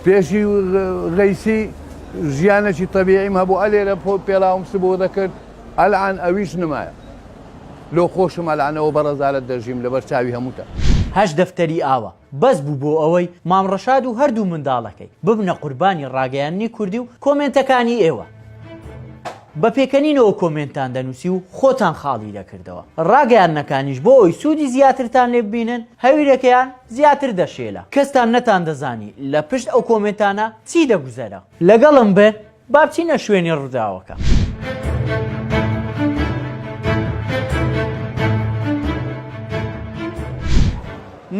پێشی غەیسی ژیانەکی تەبیعیم هەبوو ئە لێرە پێڵاوم سبۆ دەکرد ئەلعان ئەویش نمایە لۆ خۆشم ئەلانەوە بە ڕەزالەت دەژیم لەبەر چاوی هەمووتان. هەشت دەفتەری ئاوا بەس بوو بۆ ئەوەی مام ڕەشاد و هەردوو منداڵەکەی ببنە قوربانی ڕاگەیاندنی کوردی و کۆمێنتەکانی ئێوە بە پێکەنینەوە کۆمێنتتان دەنووسی و خۆتان خاڵی دەکردەوە ڕاگەیاندنەکانیش بۆ ئەوەی سوودی زیاترتان لێ ببینن هەویرەکەیان زیاتر دەشێلە. کەستان نەتان دەزانی لە پشت ئەو کۆمێنتانە چی دەگوزەرە. لەگەڵم بن با بچینە شوێنی ڕوداوەکە.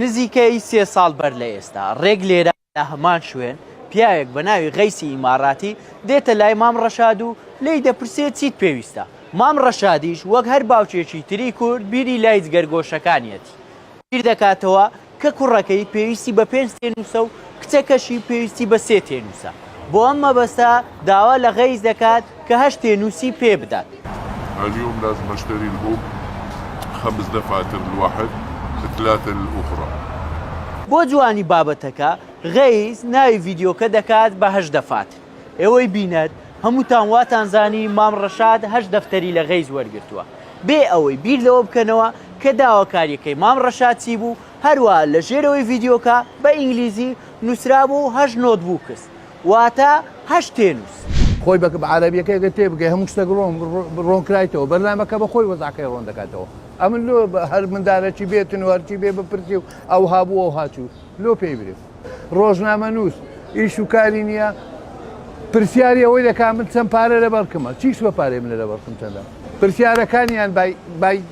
نزیکەی سێ ساڵ بەر لە ئێستا، ڕێک لێرە، لە هەمان شوێن پیاوێک بە ناوی غەیسی ئیماراتی دێتە لای مام ڕەشاد و لێی دەپرسێ چیت پێویستە؟ مام ڕەشادیش وەک هەر باوکێکی تری کورد بیری لای جگەرگۆشەکانیەتی بیر دەکاتەوە کە کوڕەکەی پێویستی بە پێنج تێنووسە و کچەکەشی پێویستی بە سێ تێنووسە بۆ ئەم مەبەستە داوا لە غەیس دەکات کە هەشتێ نووسی پێ بدات. اليوم لازم اشتري لهم خمس دفعات الواحد ثلاثة للاخرى. بۆ جوانی بابەتەکە غەیس ناوی ڤیدیۆکە دەکات بە هەشت دەفات ئێوەی بینەر هەمووتان واتان زانی مام ڕەشاد هەشت دەفتەری لە غەیس وەرگرتووە بێ ئەوەی بیر لەوە بکەنەوە کە داواکاریەکەی مام ڕەشاد چی بوو هەروەها لە ژێرەوەی ڤیدیۆکە بە ئینگلیزی نووسرابوو هەشت نۆتبووکس واتە، هەشت تێنووس. خۆی بە عەرەبیەکەی گەر تێ بگەی هەموو شتەک ڕۆن ڕۆن کرایتەوە بەرنامەکە بە خۆی وەزعەکەی ڕۆن دەکاتەوە ئەمن لۆ هەر مندالە چی بێتن و هەر چی بێ بپرسی و ئەو هابوو ئەو هاچوو لۆ پێی برێ ڕۆژنامە نووس ئیش و کاری نییە پرسیاری ئەوەی دەکا من چەند پارە لە بەرکمە چیش بە پارێ منە لە بەرکم چەندە پرسیارەکانیان بای بای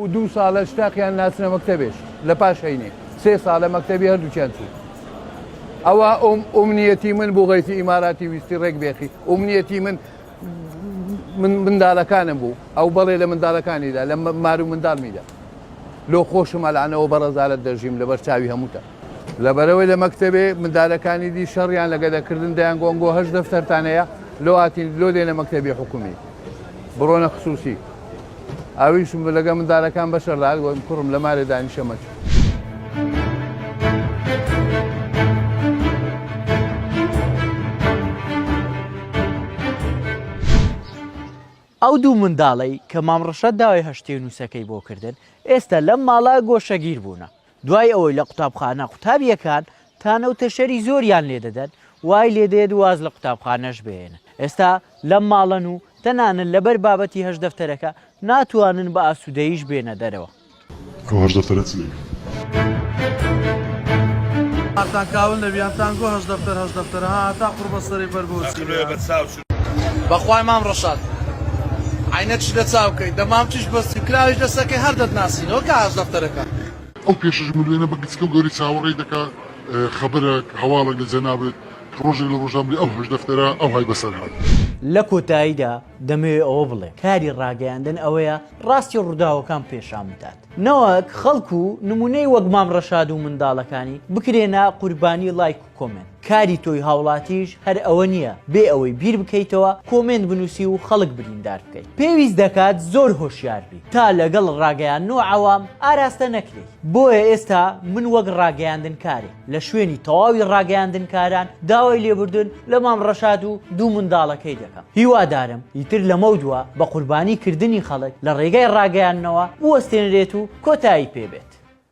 و دوو سالە شتاقیان ناچنە مەکتەبێش لە پاش هەینێ سێ سالە مەکتەبی هەردووکیان چوو ئەوە ئەم ئومنیەتی من بۆ غەیسی ئیماراتی ویستی ڕێک بێخی ئومنیەتی من من مندالەکانم بوو ئەو بەڵێ لە مندالەکانیدا لە مارو مندالمیدا لۆ خۆشم ئەلانەوە بە ڕزارت دەژیم لەبەر چاوی هەمووتە لەبەرئەوەی لە مەکتەبێ مندالەکانی دی شەڕیان لە گەدە کردن دەیان گۆن گۆ هەشت دەفتەرتان هەیە لۆ ئاتین لۆ دێنە مەکتەبی حکومی بڕۆنە خسوسی ئەویش لەگە مندالەکان بەشەر دەهات گۆن کوڕم لە مارێ دانیشە مەچۆ ئەو دوو منداڵەی کە مام ڕەشاد داوای هەشتێنووسەکەی بۆ کردن ئێستا لەم ماڵە گۆشەگیر بوونە دوای ئەوەی لە قوتابخانە قوتابییەکان تانە و تەشەری زۆریان لێ دەدەن، وای لێ دێت واز لە قوتابخانەش بهێنن. ئێستا لەم ماڵەن و تەنانەت لەبەر بابەتی هەشت دەفتەرەکە ناتوانن بە ئاسوودەییش بێنە دەرەوە. ئەو هەشت دەفتەرە چ دەیکەن؟ بەخوای مام ڕەشاد عەینەکشی لە چاوکەی دە مامکیش بەستی و کراویش دەسەکەی هەر دەتناسینەوە کە هاش دەفتەرەکە. ئەو پێشەش ملوێنە بە گچکە و گەورەی چاوەڕێی دەکا خەبەرەک، هەواڵەک لە جەنابت کە ڕۆژێک لە ڕۆژان بلێ ئەو هەشت دەفتەرە ئەوهای بەسەر هات. لە کۆتاییدا دەمەوێ ئەوە بڵێم کاری ڕاگەیاندن ئەوەیە ڕاستی ڕووداوەکان پێشان بدات نەوەک خەڵک و نموونەی وەک مام ڕەشاد و منداڵەکانی بکرێنە قوربانی لایک و. کۆمێنت کاری تۆی هاوڵاتیش هەر ئەوە نیە بێ ئەوەی بیر بکەیتەوە کۆمێنت بنوسی و خەڵک بریندار بکەی پێویست دەکات زۆر هۆشیار بی تا لەگەڵ ڕاگەیاندن و عەوام ئاراستە نەکرێی بۆیە ئێستا من وەک ڕاگەیاندن کارێ لە شوێنی تەواوی ڕاگەیاندن کاران داوای لێبوردن لە مام ڕەشاد و دوو منداڵەکەی دەکەم هیوادارم ئیتر لەمەودوا بە قوربانی کردنی خەڵک لە ڕێگای ڕاگەیاندنەوە بوەستێنرێت و کۆتایی پێ بێت.